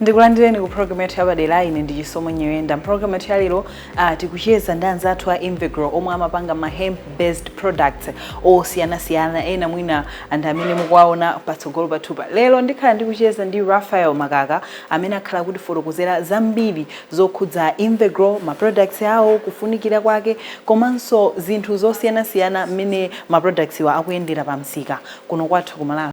Ndikulandireni ku program yathu yapadera ine ndi Chisomo Nyirenda. Program yathu yalero uh, tikucheza ndi anzathu a Invegro omwe amapanga ma hemp based products osiyanasiyana ena mwina ndi amene mukuwaona patsogolo pathupa. Lero ndikhala ndikucheza ndi Raphael Makaka amene akhala akutifotokozera zambiri zokhudza Invegro, ma products awo, kufunikira kwake komanso zinthu zosiyanasiyana mmene ma products wa akuyendera pa msika kuno kwathu ku Malawi.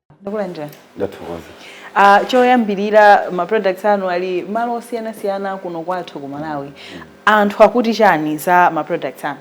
takulandirani ndathokoza uh, choyambirira ma products anu ali malo osiyanasiyana kuno kwathu ku malawi mm. anthu akuti chani za ma products anu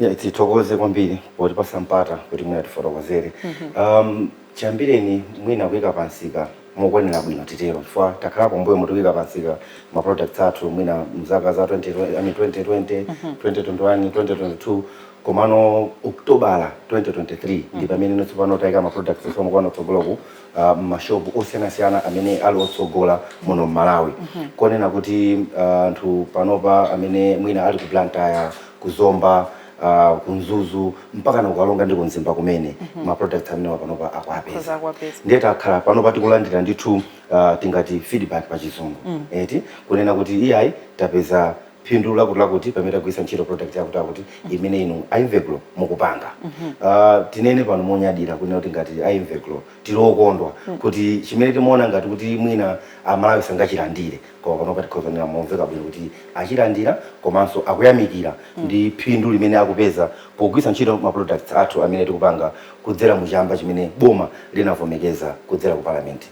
yeah, tithokoze kwambiri potipatsa mpata kuti mwina tifotokozere mm -hmm. um, chiyambireni mwina kuyika pamsika mokwanira bwino titero chifukwa takhala kumbuyomu tikuyika pamsika ma products athu mwina mzaka za 20, I mean 2020 mm -hmm. 2021 2022 komano okotobala 2023 ndi pamene tsopano tayika ma products athuwa mukuona kutsogoloku uh, mmashopu osiyanasiyana amene ali otsogola muno mmalawi kunena kuti uh, anthu panopa amene mwina ali ku blantyre ku zomba uh, ku mzuzu mpaka na ku karonga ndi ku mzimba kumene ma products amenewa panopa akuwapeza akutha kuwapeza. ndiye takhala panopa tikulandira ndithu uh, tingati feedback pa chizungu eti kunena kuti iyayi tapeza phindu lakutilakuti pamene tagwiritsa ntchito product yakutilakuti mm-hmm. imene inu a invegro mukupanga mm-hmm. ah, tinene pano monyadira kunena kuti ngati a invegro tili okondwa mm. kuti chimene timaona ngati kuti mwina amalawi sangachilandire koma panopa tikhoza kunena momveka bwino kuti achilandira komanso akuyamikira mm. ndi phindu limene akupeza pogwiritsa ntchito ma products athu amene tikupanga kudzera mu chamba chimene boma linavomereza kudzera ku palamenti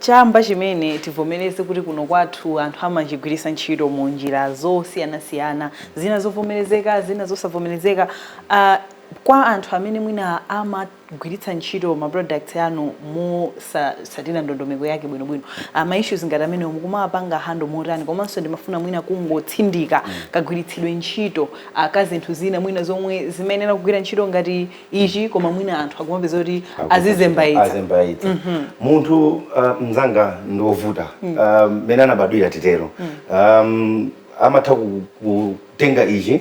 Chamba chimene tivomereze kuti kuno kwathu anthu amachigwiritsa ntchito mu njira zosiyanasiyana, zina zovomerezeka, zina zosavomerezeka. Uh, kwa anthu amene mwina amagwiritsa ntchito ma products anu mosatsatira ndondomeko yake bwinobwino, uh, ma issues ngati amenewo mukumawapanga handle motani? Komanso ndimafuna mwina kungotsindika mm. kagwiritsidwe ntchito uh, ka zinthu zina mwina zomwe zimayenera kugwira ntchito ngati ichi koma mwina anthu akumapeza kuti azizembaitsa azembaitsa mm -hmm. munthu uh, mzanga ndi wovuta mm. uh, mene anabadwira titero mm. um, amatha kutenga ichi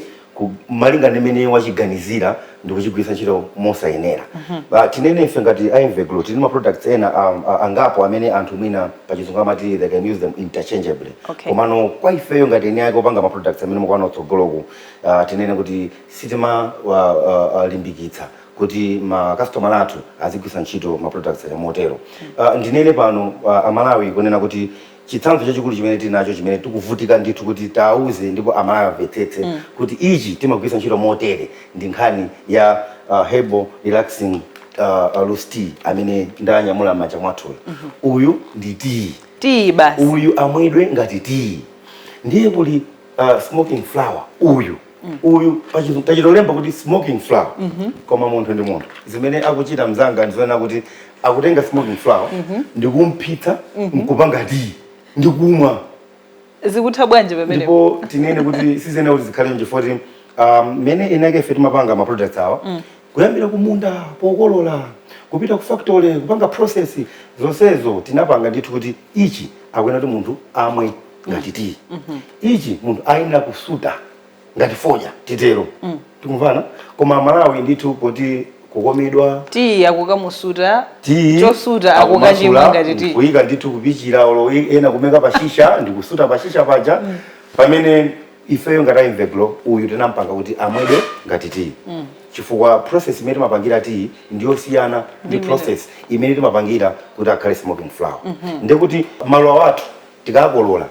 malinga ndi mmene wachiganizira ndi kuchigwiritsa ntchito mosayenera mm -hmm. uh, tinene ife ngati invegro tili ma products ena um, uh, angapo amene anthu mwina pachizungu amati they can use them interchangeably okay. komano kwa ifeyo ngati eni ake opanga ma products amene mukuwaona kutsogoloku uh, tinene kuti sitimawalimbikitsa kuti ma kasitomala athu azigwiritsa ntchito ma products aja motero. Ah, Ndinene pano ah, Amalawi kunena kuti chitsanzo chachikulu chimene tili nacho chimene tikuvutika ndithu kuti tiwauze ndipo Amalawi amvetsetse kuti ichi timagwiritsa ntchito motere ndi nkhani ya ah, herbal relaxing ah, ah, loose tea amene ndanyamula m'manja mwathuyo. Uyu ndi tiyi basi uyu amwedwe ngati tiyi ndiye kuli uh, smoking flower uyu uyu tachi- tachitolemba kuti smoking flower koma munthu ndi munthu zimene akuchita mzanga ndizonena kuti akutenga smoking flower ndikumphitsa nkupanga tiyi ndikumwa zikutha bwanji pamene ndipo tinene kuti siziyenera kuti zikhale chifoti um, mmene eni ake ife timapanga ma products awa Kuyambira kumunda pokolola kupita ku factory kupanga process zonsezo tinapanga ndithu kuti ichi akuyenera kuti munthu amwe ngati tiyi ichi munthu ayenera kusuta ngati fodya titero tikumvana koma Amalawi ndithu poti kukomedwa tiyi akukamusuta tiyi chosuta akukachimwa ngati tiyi kuyika ndithu kupichira olo ena kumuika pashisha ndikusuta pashisha paja pamene ifeyo ngati a Invegrow uyu tinampanga kuti amwedwe ngati tiyi mm. chifukwa process imene timapangira tiyi ndiyosiyana ndi process imene timapangira kuti akhale smoking flower mm -hmm. ndekuti maluwa athu tikakolola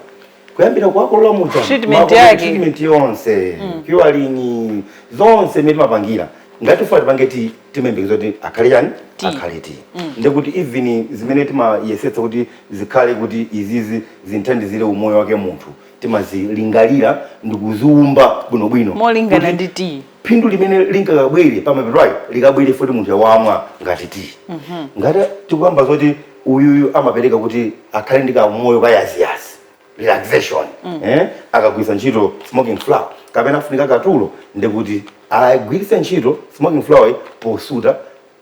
kuyambira kuwakolola muja treatment yake treatment yonse mm. curing zonse imene timapangira ngati tikufuna tipange tiyi timayembekeza kuti akhale chani akhale tiyi mm. ndekuti even zimene timayesetsa kuti zikhale kuti izizi zithandizire umoyo wake munthu timazilingalira ndikuziumba bwinobwino molingana ndi tiyi phindu limene lingakabwere pamapeto ake likabwere foti munthu wamwa ngati tiyi mm -hmm. ngati tikuyamba zoti uyuyu amapereka kuti akhale ndi kamoyo kayaziyazi relaxation mm. eh? akagwiritsa ntchito smoking flower kapena afunika katulo ndekuti agwiritse ntchito smoking flower posuta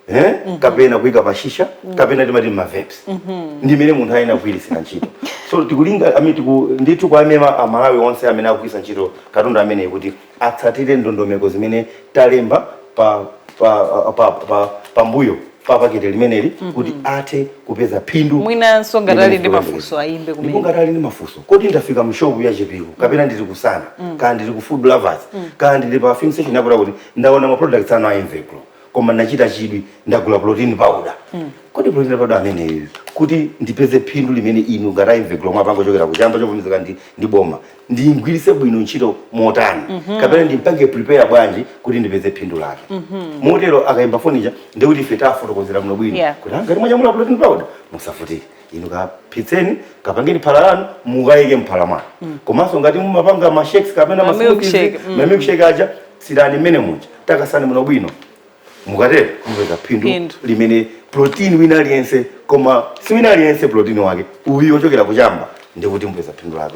eh? kapena kuika pashisha kapena timati ma vapes ndi mmene munthu ayenera kugwiritsira ntchito so tikulinga I mean, tiku, ndithu kwa amema amalawi onse amene akugwiritsa ntchito katundu ameneyi kuti atsatire ndondomeko zimene talemba pa pa pa pa pambuyo pa pakete limeneli kuti athe kupeza phindu mwinanso ngati ali ndi mafunso ayimbe ndipo kumene ngati ali ndi mafunso kodi ndafika mshopu ya Chipiku kapena ndili ku Sana kaya ndili ku Food Lovers kaya ndili pa filling station yakuti kuti ndaona ma products anu a Invegrow koma ndachita chidwi ndagula protein powder kodi protein powder ameneyu kuti ndipeze phindu limene inu ngati a Invegrow mwapanga kuchokera kuchamba chovomerezeka ndi, ndi boma ndimgwiritse bwino ntchito motani kapena ndimpange prepare bwanji kuti ndipeze phindu lake motero akaimba foni ija ndekuti ife tiwafotokozera bwino bwino Yeah. kuti "Ah, ngati mwanyamula protein powder musavutike inu kaphitseni kapangeni phala lanu mukayike mphala mwanu mm. komanso ngati mumapanga ma shakes kapena ma smoothies mm. ma milkshake aja tsirani mmene muja takasani bwino bwino mukatero mupeza phindu limene protein wina aliyense koma si wina aliyense protein wake uyu ochokera kuchamba ndikuti mupeza phindu lake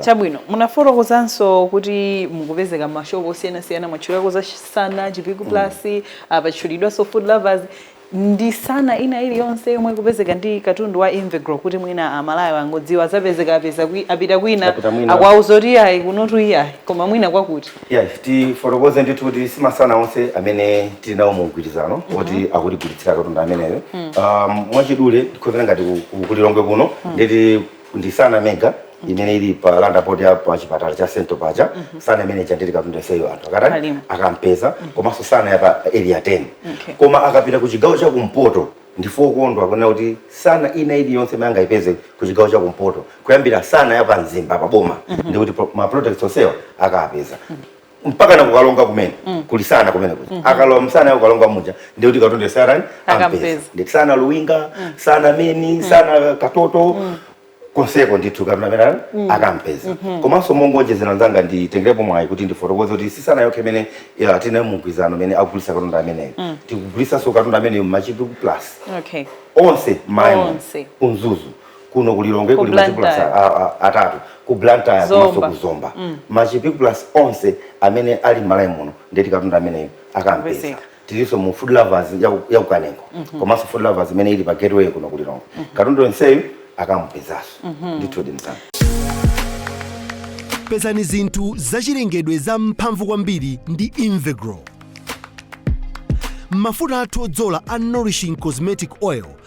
chabwino munafotokozanso kuti mukupezeka mmashopu osiyanasiyana mwatchulako za sana chipiku mm. plus mm. Ah, apatchulidwanso food lovers ndi sana ina iliyonse yomwe ikupezeka ndi katundu wa Invegrow kuti mwina amalawi angodziwa azapezeka apeza kwi, apita kwina akwauza kuti iyayi kunotu iyayi koma mwina kwakuti yeah, tifotokoze ndithu kuti si masana onse amene tili nawo mu mgwirizano mhm. woti mm -hmm. akutigulitsira katundu ameneyo mm. um, mwachidule tikhozera ngati ku lilongwe kuno mm. nditi ndi sana mega imene ili pa roundabout ya pa chipatala cha central paja sana imene ija ndiye katundu onseyo anthu akatani Kalima. akampeza komanso sana ya pa area 10 Okay. koma akapita ku chigawo cha kumpoto ndife okondwa kunena kuti sana ina iliyonse imene angayipeze ku chigawo cha kumpoto kuyambira sana ya pa mzimba pa boma ndikuti pro- ma products onsewa akapeza mpaka na ku karonga kumene mm. kuli sana kumene kuja mm -hmm. akalowa msana ya ku karonga muja ndiye kuti katundu onseyo akampeza ndi sana luwinga mm. sana main mm. sana katoto mm. konseko ndithu katundu ameneyo mm. akampeza mm -hmm. komanso mongonjezera nzanga nditengerepo mwayi kuti ndifotokoze kuti si sana yokha imene tili nayo mu mgwirizano imene akugulitsa katundu ameneyo mm. tikugulitsanso katundu ameneyo mmachipiku plus okay. onse mayi onse ku mzuzu kuno ku lilongwe Ku kuli machipiku plus Blantyre. a- a- a- atatu ku blantyre Zomba. komanso ku zomba machipiku plus onse amene ali m'malawi muno nde kuti katundu ameneyo akampeza Amapezeka. tilinso mu food lovers ya ku- ya kukanengo komanso food lovers imene ili pa gateway kuno ku lilongwe katundu onseyu akamupezanso ndithudi mzanga pezani zinthu zachilengedwe za mphamvu kwambiri ndi invegrow mafuta athu odzola a nourishing cosmetic oil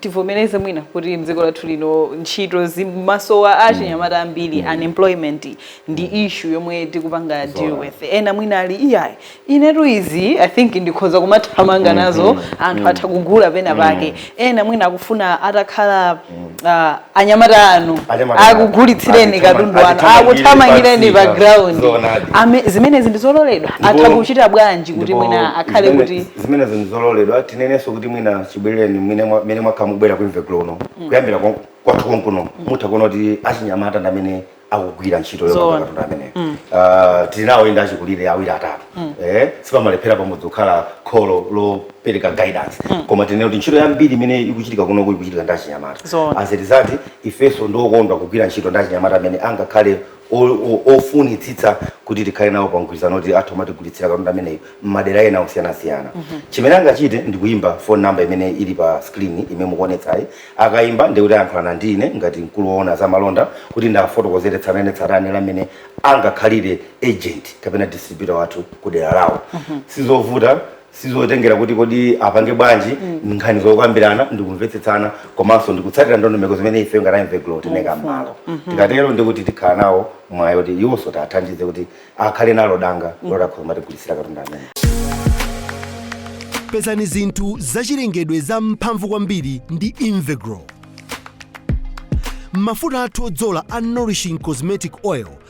tivomereze mwina kuti mdziko lathu lino ntchito zimasowa achinyamata mm. ambiri mm. unemployment ndi mm. issue yomwe tikupanga deal with ena mwina ali iyayi inetu izi i think ndikhoza kumathamanga mm-hmm. nazo anthu atha kugula pena pake ena mwina akufuna atakhala uh, anyamata anu akugulitsireni katundu anu akuthamangireni pa ground zimenezi ndizololedwa atha kuchita bwanji kuti mwina akhale kuti zimenezo ndizololedwa tinenenso kuti mwina chibwerereni mmene mwa- mmene mwakhala mukubwera ku invegrow kuno kuyambira kon- kwathu konkuno mutha kuona kuti achinyamata ndi amene akugwira ntchito Zoona. yopanga katundu amene Ah, tili nawo inde achikulire awiri atatu Eh, sipamalephera pamodzi kukhala kholo lopereka guidance koma tinene kuti ntchito yambiri imene ikuchitika kuno ikuchitika ndi achinyamata Zoona. azitsikana ifenso ndife okondwa kugwira ntchito ndi achinyamata amene angakhale ofunitsitsa kuti tikhale nawo pa mgwirizano kuti azitha kumatigulitsira katundu ameneyu m'madera ena osiyanasiyana mm -hmm. chimene angachite ndikuyimba phone number imene ili pa screen imene mukuonetsayi akayimba ndikuti ayankhulana ndi ine ngati mkulu woona za malonda kuti ndiwafotokozere tsatanetsatane la mmene angakhalire agent kapena distributor wathu ku dera lawo mm -hmm. sizovuta sizotengera kuti kodi apange bwanji nkhani zokambirana ndikumvetsetsana komanso ndikutsatira ndondomeko zimene ife ngati invegrow tinaika mmalo tikatero ndikuti tikhala nawo mwayi kuti iwonso tiwathandize kuti akhale nalo danga lotha kumatigulitsira katundu amene pezani zinthu zachilengedwe za mphamvu kwambiri ndi invegrow mafuta athu odzola a nourishing cosmetic oil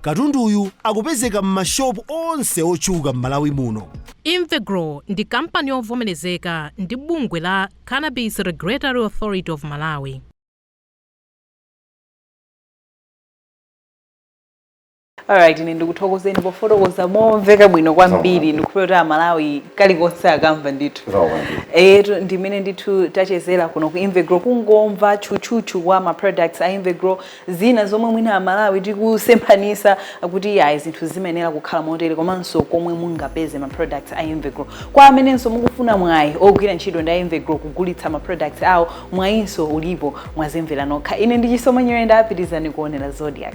Katunduyu akupezeka m'ma shop onse otchuka m'Malawi muno. Invegrow ndi kampani yovomerezeka ndi bungwe la Cannabis Regulatory Authority of Malawi. Alright, ine ndikuthokozeni pofotokoza momveka bwino kwambiri ndikhulupirira kuti amalawi kalikonse akamva ndithu eyetu ndimene ndithu tachezera kuno ku invegrow kungomva tchutchutchu kwa ma products a invegrow zina zomwe mwina amalawi tikusemphanisa kuti iyayi zinthu zimayenera kukhala motere komanso komwe mungapeze ma products a Invegrow kwa amenenso mukufuna mwayi ogwira ntchito ndi a Invegrow kugulitsa ma products awo mwayinso ulipo mwazimvera nokha ine ndi chisomo nyirenda pitirizani kuonera zodiak